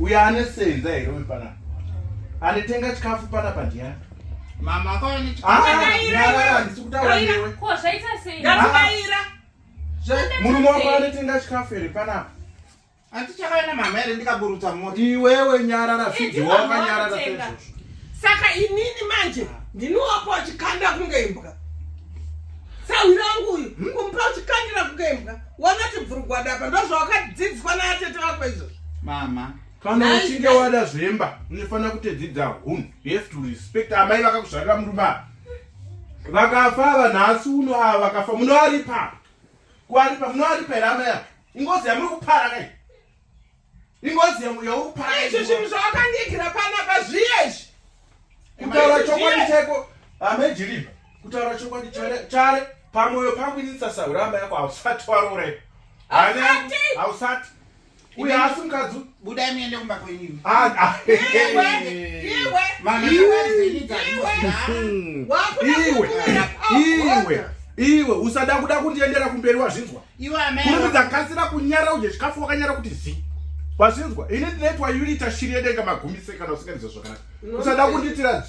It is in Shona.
uyo anosenza here uyu panapa anitenga chikafu panapa ndiyani mama akawaneandisi kutaura newe murume wako anotenga chikafu here panapa andichakaenda mama here ndikaburutsa mota iwewe nyarara zvidyoka nyarara sezvozvo saka inini manje ndinowapo achikanda kunge imbwa sahwirangu uyu hmm? kumpa uchikandira kunge imbwa wanoti bvurugwada apa ndozvawakadzidziswa naatete vako izvozvo mama kana uchinge wada zvemba unofanira kutedzidza hunhu you have to respect amai vakakuzvarira murume ava vakafa ava nhasi uno ava vakafa munoaripa kuaripa munoaripa here amai ava ingozi yamuri kupara kai ingozi yangu yaupara izvi zvinhu zvawakandiigira panapa zviye izvi kutaura chokwadi chaiko hamejiriva kutaura chokwadi chare pamwoyo pangu ini ndisasaura amba yako hausati warorepa hausati uye asi mukadzi budai muende kumba kwenyu iwe iwe usada kuda kundiendera kumberi wazvinzwa kurumidza kasira kunyara udye chikafu wakanyara kuti zi wazvinzwa ini ndinoitwa unita shiri yedenga magumisekana usinganizwa zvakanaka usada kunditira dzu